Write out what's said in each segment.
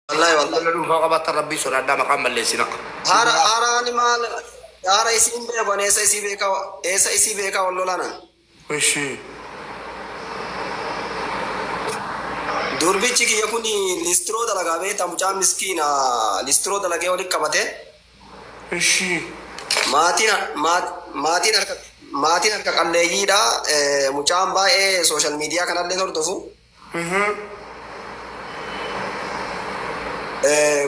Wallahi wallahi. Abdalla dhuunfaa qabaattan rabbii sodaadhaa maqaan balleessina. Haara haaraani maal haara isii hin beeku ani eessa isii beekaa eessa isii beekaa wal lolaanan. Ishi. Durbichi kiyya kun listiroo dalagaa beektaa mucaa miskiina listiroo dalagee walitti qabate Ishi. maatiin maat- maatiin harka maatiin harka qalleeyyiidha Eh, mucaan baay'ee sooshaal miidiyaa kanallee hordofu.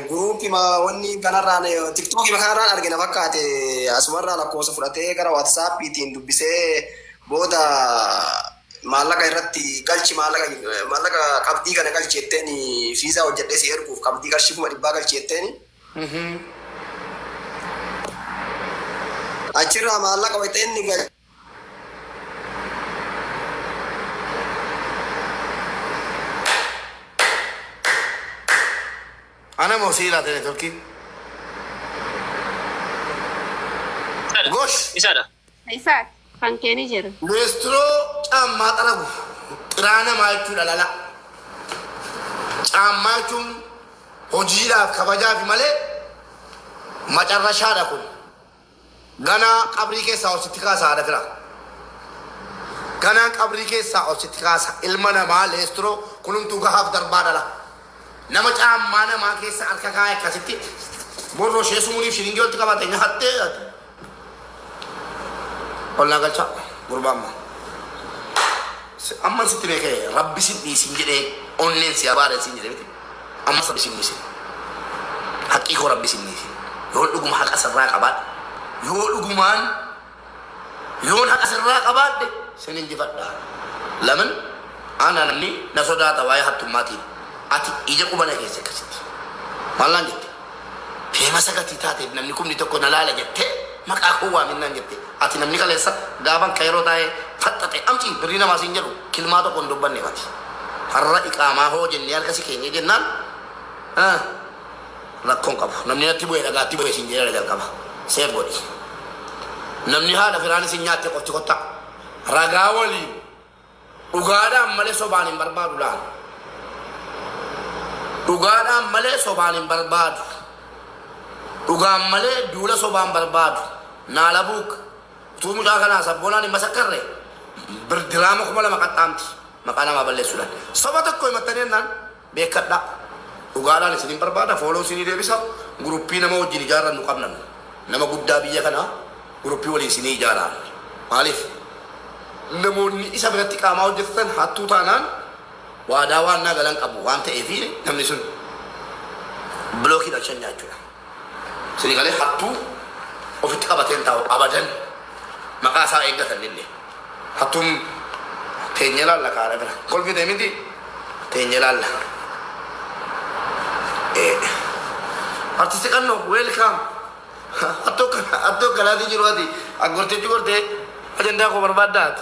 Group ma wanni kanarraan tiktookii ma kanarraan arge na fakkaate asumarraa lakkoofsa fudhatee gara waatsaappiitiin dubbisee booda maallaqa irratti galchi maallaqa maallaqa qabdii kana galchi jetteen fiizaa hojjedhee si erguuf qabdii qarshii kuma dhibbaa galchi jetteen achirraa maallaqa wayita inni galchi Ana moo sii laate networkii? Isaadha. Gosh! Isaadha. Isaa kan kee ni jira. Leestiroo caammaa xaragu xiraa namaa jechuudha lala. Caammaa jechuun hojiidhaaf kabajaafi malee macarrashaadha kun. Ganaa qabrii keessaa ol sitti kaasa haadha firaa Ganaa qabrii keessaa ol sitti kaasa ilma namaa leestiroo kulumtuu gahaaf darbaa dhala nama caammaa namaa keessa harka kaa'e akkasitti borroo ishee sumuliif shiringii walitti qabate nyahattee ati ol naa galchaa gurbaa ammaa Si- amman sitti beekee rabbi sin dhiisin jedhee onneen si abaare sin jedhe miti Ammas rabbi sin dhisin haqqii koo rabbi sin dhisin yoon dhuguma haqa sirraa qabaadhe yoo dhugumaan yoon haqa sirraa qabaadhe sin injifadha lamin ana namni na sodaata waa'ee hattummaatiin ati ija qubana keessa akkasitti maal naan jette feemasa gatii taateef namni kumni tokko na laala jettee maqaa koo waamin naan jette. Ati namni kaleessa gaafan kayiroo taa'ee faxxaxe amci birrii namaa siin jedhu kilmaa tokko hin dubbanne mati. Har'a iqaamaa hoo jennee harka si keenyee jennaan ah, rakkoon qabu. Namni natti bu'e dhagaatti bu'e siin jedhee jalqaba. Seef godhi. Namni haadha firaan isin nyaatte qofti kottaa. Ragaa waliin. Dhugaadhaan malee sobaan hin barbaadu laal. Dhugaadhaan malee sobaan hin barbaadu. Dhugaan malee duula sobaan barbaadu. Naalabuuk utuu mucaa kanaa sabboonaan hin masakkarre birdiraama kuma lama qaxxaamti maqaa namaa balleessuudhaan. Soba tokko himattanii jennaan Beekkadhaa. Dhugaalaan isinin barbaada follow isinii deebisa group nama wajjin ijaarrannu qabna nu. Nama guddaa biyya kana group waliin isinii ijaaraa. Maaliif? Namoonni isa biratti qaamaa hojjetatan hattuu taanaan waadaa waannaa galan qabu waan ta'eef namni sun block hidhan shan nyaachuudha. Sinigalee hattuu ofitti qabateen taa'u abadan maqaa isaa eeggatan illee hattuun teenye ilaalla kaara bira kolfite miti teenye ilaalla. Artisti qannoo weelkaam hattuu akkanaatii jiru ati gorteetti gortee ajandaa koo barbaaddaati.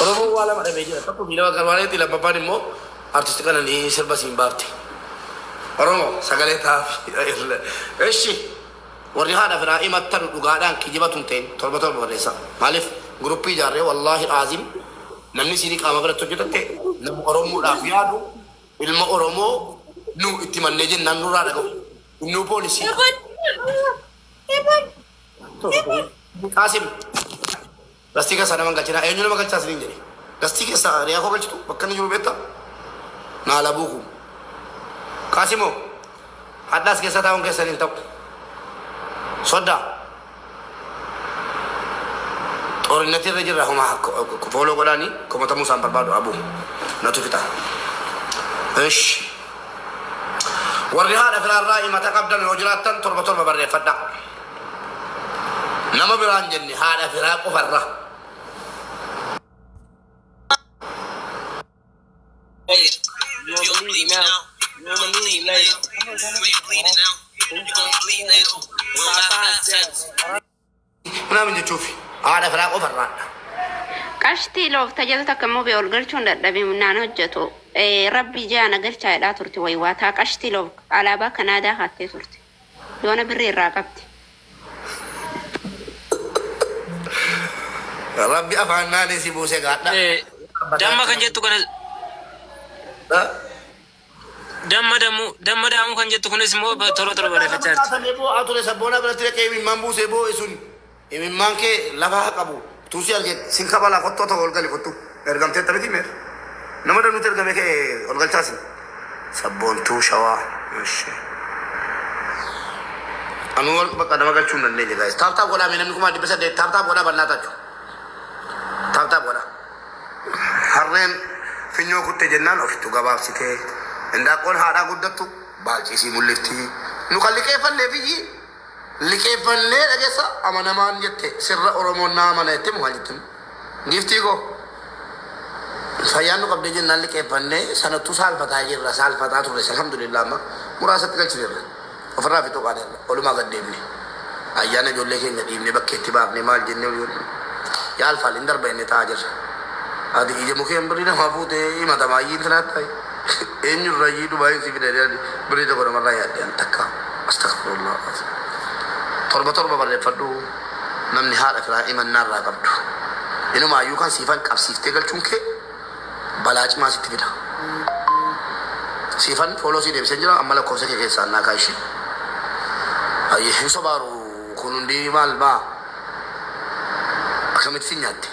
Oromoon waa lama dhabee jira. Tokko Biilama Garbaaleetti lammaffaan immoo Artisti Qananii sirba siin baafte. Oromoo sagalee taafii. Eshi warri haadha firaa imattanu dhugaadhaan kijiba tun ta'in torba torba barreessa. Maaliif group ijaarree wallaahi aazim namni isiinii qaama biratti hojjetatte nama Oromoodhaaf yaadu ilma Oromoo nu itti mannee jennaan nurraa dhaga'u. Innuu poolisii. Qaasim. Dastii keessaa nama hin galchinaa. Eenyu nama galchaa isiniin jedhe? Dastii keessaa hiriyaa koo galchitu bakka inni jiru beektaa? Naa labuu kuu. Qaasimoo, hadhaas keessa taa'uun keessan hin ta'u. Soddaa. Xoorinnatii irra jirra homa fooloo godhaanii komatamuu isaan barbaadu abuu. Natu fixa. Ish. Warri haadha firaarraa himata qabdan yoo jiraattan torba torba barreeffadhaa. Nama biraa hin jenne haadha firaa qofarra. You're bleeding now. You're bleeding later. You're bleeding now. You're bleeding later. We'll have five steps. Nama hin jechuufi haadha firaa qofarraa. Qashtii loof tajaajila takka immoo bee ol galchuun dadhabee naan hojjetu. Eh, Rabbi ijaa na galchaa jedhaa turte wayiwaa taa qashtii loof alaabaa Kanaadaa haattee turte. Yoona birrii irraa qabdi. Rabbi afaan naani si buuse gaadha. Eh, Damma kan jettu kana damma dammu damma daamu kan jettu kunis immoo ba- tola tola barreeffachaa jirti. Kan eeboo haa ture sabboonaa biratti dhaqee imimmaan buusee boo'e sun. Imimmaan kee lafa ha qabu. Utuu si argee sin kabala kottu otoo ol gali kottu ergamteetta miti mee nama danuutti ergame kee ol galchaa sin. Sabboontuu shawaa eshi. Anuu warq bakka nama galchuu hin dandeenye guys. Taap taap godhaa mee namni kumaa dhibba saddeet taap taap godhaa bannaa tachu. Taap taap godhaa. Harreen finyoo kutte jennaan ofittu gabaabsitee. Indaaqqoon haadhaa guddattu baalciisii mul'ifti. Nu kan liqeeffannee biyyi Liqeeffannee dhagessa amanamaan jette sirra oromoon na amana jette mo maal jettin giiftii koo fayyaan nu qabdee jennaan liqeeffannee sanattuu saalfataa jirra saalfataa turres alhamdulillah amma muraasatti galchineerra ofirraa fi tuqaaneerra olumaa gad deemne ayyaana ijoollee keenya dhiibne bakkeetti baafne maal jennee olii gad yaalfaal hin darba inni taa'aa jirra ati ija mukeen birrii namaa fuutee himatamaa iyyii intinaa ta'e Eenyu irrayyii Dubaayiin si fide jedhani birrii tokko namarraa yaadde an takka Astagfirullah Azim torba torba barreeffadhu namni haadha firaa imannaa irraa qabdu inumaayyuu kan siifan qabsiiftee galchuun kee balaa cimaa sitti fida siifan fooloo sii deebisee jira amma lakkoofsa kee keessaa annaa kaa ishee Ayyee hin sobaaru kun hundi maal maa akkamitti si nyaatte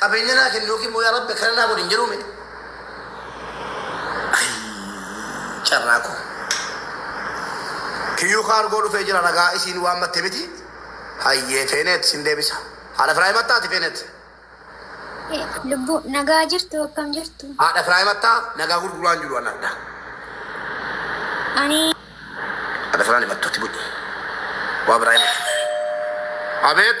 Qabeenya naa kenni yookiin immoo yaa rabbi akkana naa godhi hin jedhuu mee? Ayii carraa koo. Kiyyuu kaargoo dhufee jira ragaa isiin waan matte miti. Hayyee feeneet sin deebisa. Haadha firaa himattaa ati feeneet. Lubbu nagaa jirtu akkam jirtu? Haadha firaa himattaa nagaa gurguraan jiru anadha. Ani Haadha firaan himattuutti bu'i. Waa biraa himattu. Abeet.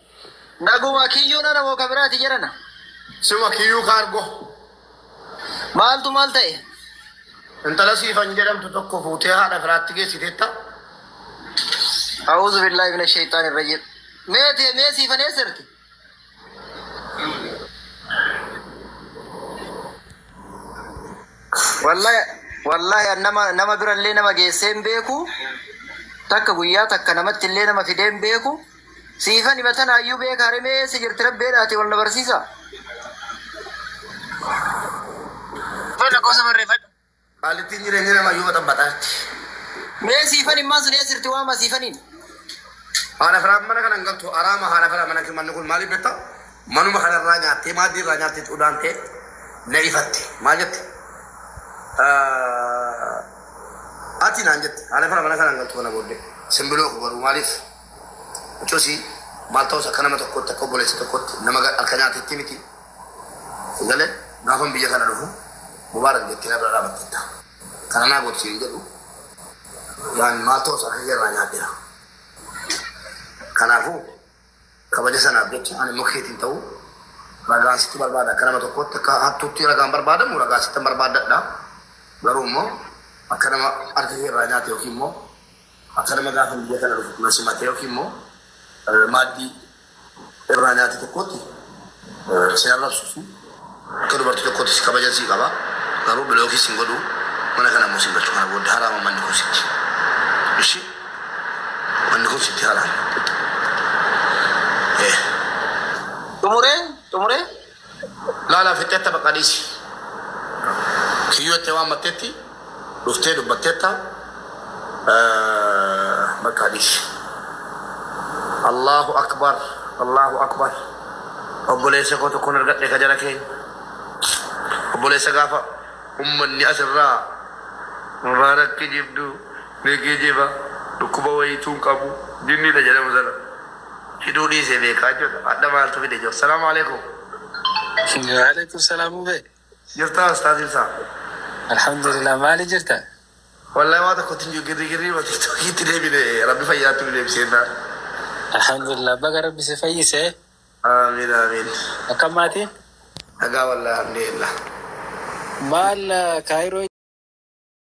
Naguma kiyyuu nana moo kabiraati jedhana. Suma kiyyuu kaargo. Maaltu maal ta'e? Intala siifan jedhamtu tokko fuutee haadha firaatti geessiteetta. A'uuzu billaahi mina sheeyxaan irra jedhu. Mee tee mee siifan eessa jirti? Wallahi wallahi an nama nama birallee nama geessee hin beeku. Takka guyyaa takka namatti illee nama fidee hin beeku. Siifan hima tanaayyuu beekaa remee eessa jirti rabbeedhaati wal na barsiisa. Mee lakkoofsa barreeffadhu. Qaalittiin jireenya namaa yoo baxabbaxaatti. Mee siifan himmaan sun eessa jirti waama siifaniin. Haadha firaa mana kana hin galtu araama haadha firaa mana manni kun maaliif beektaa? Manuma kana irraa nyaattee maaddii irraa nyaattee xudaantee na ifatte maal jette? Ati naan jette haadha firaa mana kana hin galtu kana booddee simbiroo garuu maaliif? Cosi maal ta'us akka nama tokkootti akka obboleessa tokkootti nama ga- harka nyaatetti miti. Sigale gaafan biyya kana dhufu mubaarak jettee na bira dhaabatteetta. Kana naa godhu siin jedhu waan maal ta'us harka kee irraa nyaadheera. Kanaafuu kabaja sanaaf jecha ani immoo keetiin ta'u ragaan sitti barbaada akka nama tokkootti akka hattuutti ragaan barbaadamu ragaa sitti barbaadadha. Garuu immoo akka nama harka kee irraa nyaate yookiin immoo Akka nama gaafa biyya kana dhufu na simatee yookiin immoo maaddii irraa nyaate tokkotti si arrabsu fi akka dubartii tokkotti si kabajan si qaba. Garuu bilookii sin godhu mana kana immoo sin galchu kana booda haraama manni kun sitti. Ishi manni kun sitti haraama. Eh. Xumuree xumuree Laalaa fixxetta baqa dhiisi. Kiyyoo itti waammattetti dhuftee dubbattetta baqa dhiisi. Allaahu akbar Allaahu akbar obboleessa koo tokkon argadhe ka jara keenya obboleessa gaafa ummanni as irraa nurraa na kijibdu ni kijiba dhukkuba wayiituu hin qabu jinniidha jedhamu sana. Hidhuu dhiisee beekaa jechuudha. Hadha maaltu fide jiru. Salaamu alaikum. Waalaikum salaam ube. Jirtaa ustaaz ibsaa. Alhamdulillah maali jirta? Wallahi waa tokko tinju girri girri ma tiktoki itti deebine rabbi fayyaatti nu deebisee naa. Alhamdulillah baga rabbi si fayyise. Amiin amiin. Akkam maatiin? Nagaa wallahi alhamdulillah. Maal kaayiroo